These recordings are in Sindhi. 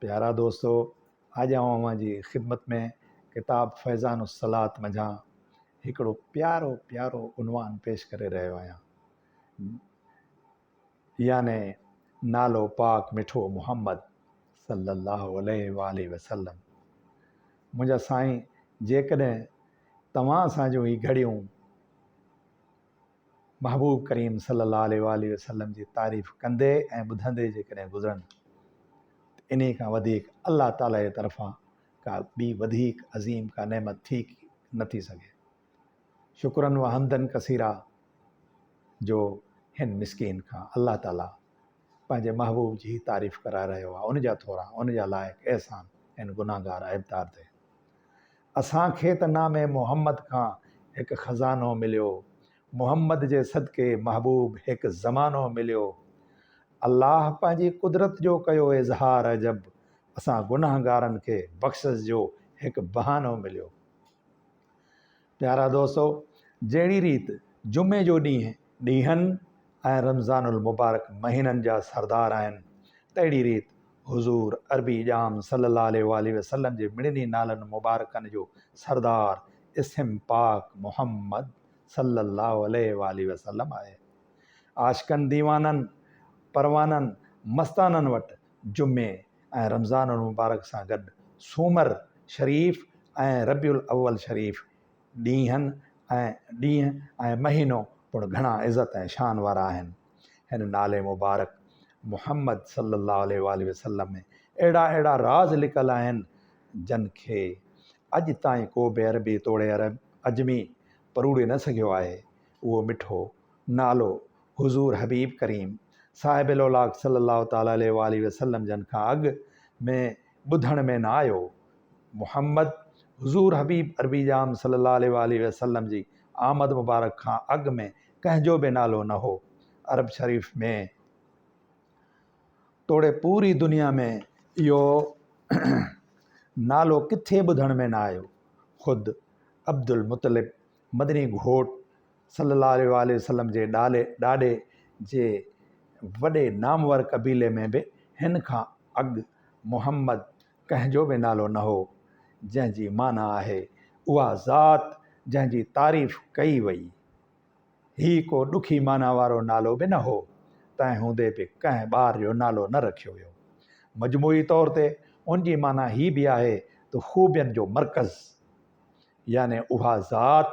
پيارا دوستو اڄ آئون اوهان جي خدمت ۾ ڪتاب فيضان الصلات منجهان هڪڙو پيارو پيارو عنوان پيش ڪري رهيو آهيان يعني نالو پاڪ مٺو محمد صلي الله عليه واله وسلم منهنجا سائين جيڪڏهن توهان سان جو هي گهڙيون محبوب ڪريم صلي الله عليه واٰله وسلم جي تعريف ڪندي ۽ ٻڌندي جيڪڏهن گذرن ته انهي کان وڌيڪ الله تعالي جي طرفان ڪا ٻي وڌيڪ عظيم ڪا نعمت ٿي نه ٿي سگهي. شڪرا وحمدا ڪثيرا جو هن مسڪين کان الله تعالي پنهنجي محبوب جي هي تعريف ڪرائي رهيو آهي ان جا ٿورا ان جا لائق احسان ان گنهگار عيبدار تي اسان کي ته نام محمد کان هڪ خزانو مليو محمد جي صدقي محبوب هڪ زمانو مليو الله پنهنجي قدرت جو ڪيو اظهار عجب اسان گنهگارن کي بخشس جو هڪ بهانو مليو پيارا دوستو جهڙي ريت جمعي جو ڏينهن ڏينهن ۽ رمضان المبارڪ مهينن جا سردار آهن تهڙي ريت حضور عربي ڄام صلي الله عليه واٰله وسلم جي مڙني نالن مبارڪن جو سردار اسم پاڪ محمد صلي الله عليه واٰله وسلم آهي عاشقن ديوانن پروانن مستانن وٽ جمعي ۽ رمضان المبارڪ سان گڏ سومر شريف ۽ ربيع الاول شريف ڏينهن ۽ ڏينهن ۽ مهينو پڻ گهڻا عزت ۽ شان وارا آهن هن نالي مبارڪ محمد صلي الله عليه واٰله وسلم ۾ اهڙا اهڙا راز لڪل آهن جن کي اڄ تائين ڪو به عربي توڙي عجمي پروڙي نه سگهيو آهي اهو مٺو نالو حضور حبيب ڪريم صاحب الاولاق صلّي اللّٰه تعالٰي عليه واٰله وسلّم جن کان اڳ ۾ ٻڌڻ ۾ نه آيو. محمّد، حضور حبيب عربي ڄام صلّي اللّٰه عليه واٰله وسلّم جي آمد مبارڪ کان اڳ ۾ ڪنهن جو به نالو نه هو. عرب شريف ۾ توڙي پوري دنيا ۾ اهو نالو ڪٿي ٻڌڻ ۾ نه آيو. خود عبدالمطلّب، مدني گهوٽ صلّي الله عليه واٰله وسلّم جي ڏالي ڏاڏي جي وڏي نامور قبيلي ۾ به هن کان اڳ محمد ڪنهن جو به نالو نه هو، جنهن جي معنيٰ آهي، اها ذات جنهن جي تعريف ڪئي وئي. هي ڪو ڏکي معنيٰ وارو نالو به نه هو، تنهن هوندي به ڪنهن ٻار جو نالو نه رکيو ويو. مجموعي طور تي ان جي معنيٰ هي به آهي ته خوبين جو مرڪز. يعني اها ذات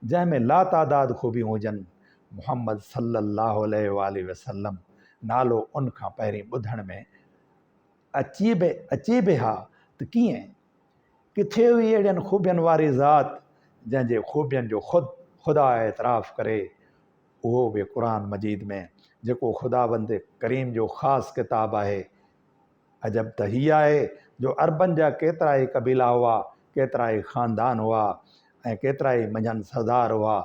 جنهن ۾ لاتعداد خوبيون هجن، محمد صلّي الله عليه واٰله وسلّم نالو ان کان پهرين ٻڌڻ ۾ اچي به اچي به ها ته ڪيئن؟ ڪٿي هئي اهڙين خوبين واري ذات جنهن جي خوبين جو خود خدا اعتراف ڪري، اهو به قرآن مجيد ۾ جيڪو خداوند ڪريم جو خاص ڪتاب آهي، عجب ته هي آهي جو عربن جا ڪيترائي قبيلا هئا، ڪيترائي خاندان هئا ۽ ڪيترائي منجهن سردار هئا،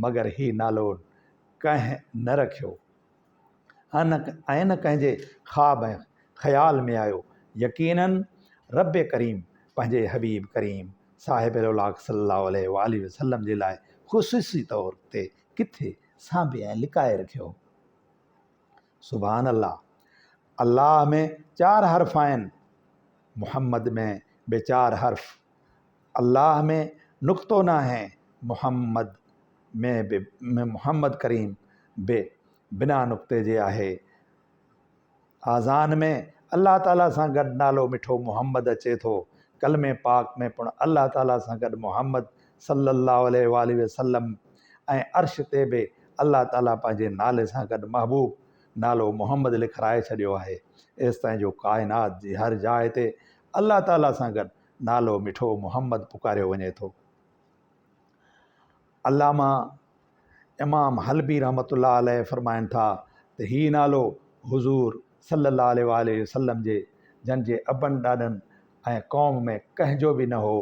مگر هي نالو ڪنهن نه رکيو ۽ نه ڪنهن جي خواب ۽ خيال ۾ آيو. يقيناً ربّ ڪريم پنهنجي حبيب ڪريم صاحب لولاڪ صلّي الله عليه واٰله وسلّم جي لاء خصوصي طور تي ڪٿي سانڀي ۽ لڪائي رکيو. سبحان الله الله ۾ چار حرف آهن محمد ۾ به چار حرف الله ۾ نقطو ناهي محمد ۾ به محمد ڪريم به بنا نقطي جي آهي آذان ۾ الله تعاليٰ سان گڏ نالو مٺو محمد اچي ٿو ڪلمي پاڪ ۾ پڻ الله تعاليٰ سان گڏ محمد صلّي اللّٰه عليه واٰله وسلّم ۽ عرش تي به الله تعاليٰ پنهنجي نالي سان گڏ محبوب نالو محمد لکرائي ڇڏيو آهي، ايستائين جو ڪائنات جي هر جاء تي الله تعاليٰ سان گڏ نالو مٺو محمد پڪاريو وڃي ٿو. علامه امام حلبي رحمة الله عليه فرمائن ٿا ته هي نالو حضور صلّي اللّٰه عليه واٰله وسلّم جي جن جي ابن ڏاڏن ۽ قوم ۾ ڪنهن جو به نه هو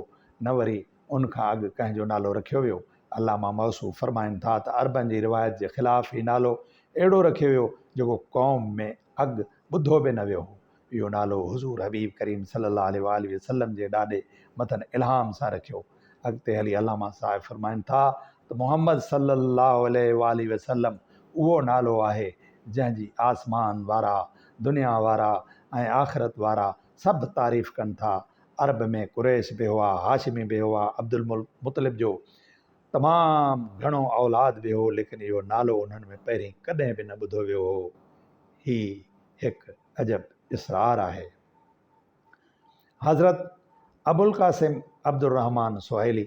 نه وري ان کان اڳ ڪنهن جو نالو رکيو ويو؟ علامه موصوف فرمائن ٿا ته عربن جي روايت جي خلاف هي نالو اهڙو رکيو ويو جيڪو قوم ۾ اڳ ٻڌو به نه ويو هو. اهو نالو حضور حبيب ڪريم صلي الله عليه واٰله وسلم جي ڏاڏي مٿن الهام سان رکيو. اڳتي هلي علامه صاحب فرمائن ٿا ته محمد صلي الله عليه واٰله وسلم اهو نالو آهي جنهن جي آسمان وارا، دنيا وارا ۽ آخرت وارا سڀ تعريف ڪن ٿا ۽ عرب ۾ قريش به هئا، هاشمي به هئا، عبدالمطلب جو تمام گهڻو اولاد به هو، ليڪن اهو نالو انهن ۾ پهرين ڪڏهن به نه ٻڌو ويو هو. هي هڪ عجب اسرار آهي. حضرت ابوالقاسم عبدالرحمان سهيلي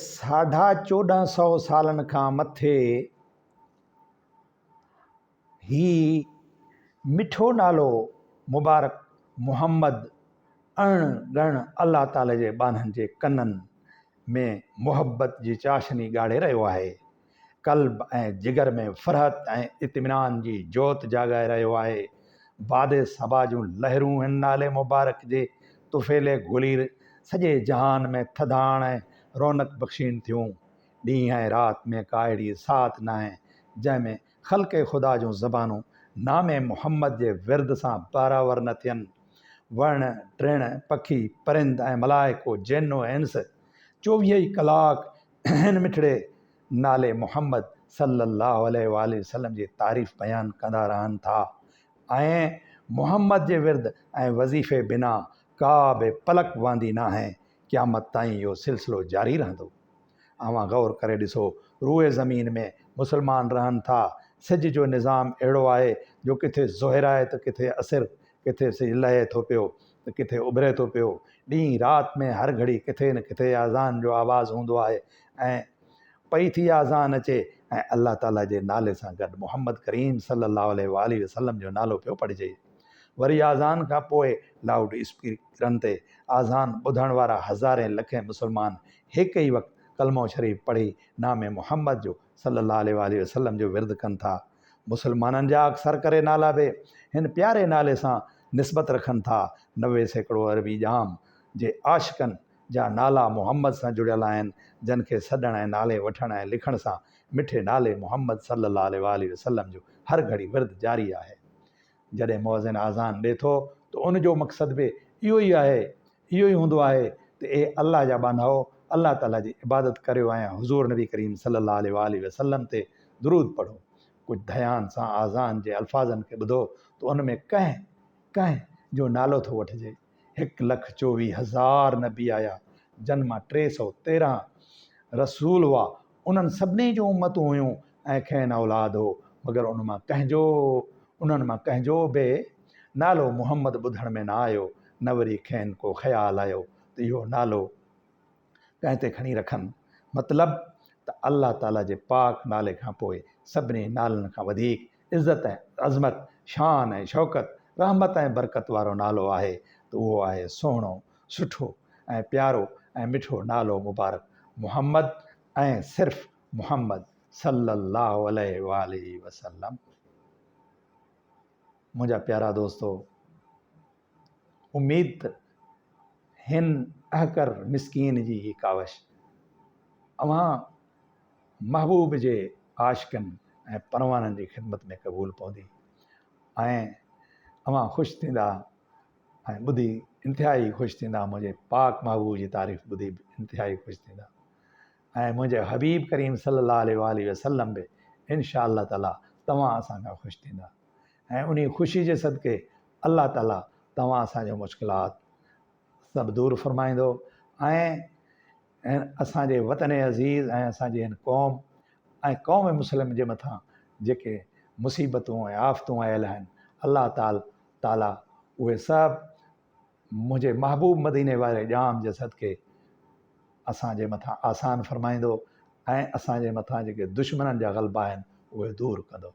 ساڍا چوڏهن سو سالن کان مٿي هي مٺو نالو مبارڪ محمد اڻ ڳڻ الله تعالي جي ٻانهن جي ڪنن ۾ محبت جي چاشني ڳاڙهي رهيو آهي قلب ۽ جگر ۾ فرحت ۽ اطمينان جي جوت جاڳائي رهيو آهي. باد صبا جون لهرون هن نالي مبارڪ جي طفيلي گهلير سڄي جهان ۾ ٿڌاڻ ۽ رونق بخشين ٿيون. ڏينهن ۽ رات ۾ ڪا اهڙي ساعت ناهي، جنهن ۾ خلق خدا جون زبانون نام محمد جي ورد سان بحراور نه ٿين. وڻ، ٽڻ، پکي، پرند ۽ ملائڪو، جن و انس چوويهه ئي ڪلاڪ هن مٺڙي نالي محمد صلّي اللّٰه عليه واٰله وسلّم جي تعريف بيان ڪندا رهن ٿا ۽ محمد جي ورد ۽ وظيفي بنا ڪا به پلڪ وهندي ناهي، قيامت تائين اهو سلسلو جاري رهندو. اوهان غور ڪري ڏسو، روئي زمين ۾ مسلمان رهن ٿا، سج جو نظام اهڙو آهي جو ڪٿي ظهر آهي ته ڪٿي عصر، ڪٿي سج لهي ٿو پيو ته ڪٿي اڀري ٿو پيو ڏينهن رات ۾ هر گهڙي ڪٿي نه ڪٿي آذان جو آواز هوندو آهي ۽ پئي ٿي آذان اچي ۽ الله تعالي جي نالي سان گڏ محمد ڪريم صلي الله عليه واٰله وسلم جو نالو پيو پڙهجي وري آذان کان پوء لائوڊ اسپيڪرن تي آذان ٻڌڻ وارا هزارين لکين مسلمان هڪ ئي وقت ڪلمو شريف پڙهي نام محمد جو صلي الله عليه واٰله وسلم جو ورد ڪن ٿا مسلمانن جا اڪثر ڪري نالا به هن پياري نالي سان نسبت رکن ٿا. نوي سيڪڙو عربي ڄام جي عاشقن جا نالا محمد سان جڙيل آهن، جن کي سڏڻ ۽ نالي وٺڻ ۽ لکڻ سان مٺي نالي محمد صلي الله عليه واٰله وسلم جو هر گهڙي ورد جاري آهي. جڏهن مؤذن آذان ڏي ٿو ته ان جو مقصد به اهو ئي آهي اهو ئي هوندو آهي ته اي الله جا ٻانهائو الله تعاليٰ جي عبادت ڪريو ۽ حضور نبي ڪريم صلي الله عليه وآله وسلم تي درود پڙهو ڪجهه ڌيان سان آذان جي الفاظن کي ٻڌو ته ان ۾ ڪنهن ڪنهن جو نالو ٿو وٺجي هڪ لک چوويهه هزار نبي آيا، جن مان ٽي سؤ تيرهن رسول هئا، انهن سڀني جون امتون هيون ۽ کين اولاد هو، مگر ان مان ڪنهن جو انهن مان ڪنهن جو به نالو محمد ٻڌڻ ۾ نه آيو، نه وري کين ڪو خيال آيو ته اهو نالو. ڪنهن تي کڻي رکن. مطلب ته الله تعاليٰ جي پاڪ نالي کان پوء سڀني نالن کان وڌيڪ عزت ۽ عظمت، شان ۽ شوڪت، رحمت ۽ برڪت وارو نالو آهي ته اهو آهي سهڻو، سٺو ۽ پيارو ۽ مٺو نالو مبارڪ محمد ۽ صرف محمد صلّي اللّٰه عليه واٰله وسلّم. منهنجا پيارا دوستو! اميد ته هن احقر مسڪين جي هي ڪاوش اوهان محبوب جي عاشقن ۽ پروانن جي خدمت ۾ قبول پوندي ۽ اوهان خوش ٿيندا ۽ ٻڌي انتهائي خوش ٿيندا منهنجي پاڪ محبوب جي تعريف ٻڌي به انتهائي خوش ٿيندا ۽ منهنجي حبيب ڪريم صلي الله عليه وآله وسلم به انشاء الله تعالٰي توهان اسان کان خوش ٿيندا ۽ انهي خوشي جي صدقي الله تعالي توهان اسان جون مشڪلات سڀ دور فرمائيندو ۽ اسان جي وطن عزيز ۽ اسان جي هن قوم ۽ قوم مسلم جي مٿان جيڪي مصيبتون ۽ آفتون آيل آهن الله تعال تعالي اهي سڀ منهنجي محبوب مديني واري ڄام جي صدقي اسان جي مٿان آسان فرمائيندو ۽ اسان جي مٿان جيڪي دشمنن جا غلبا آهن اهي دور ڪندو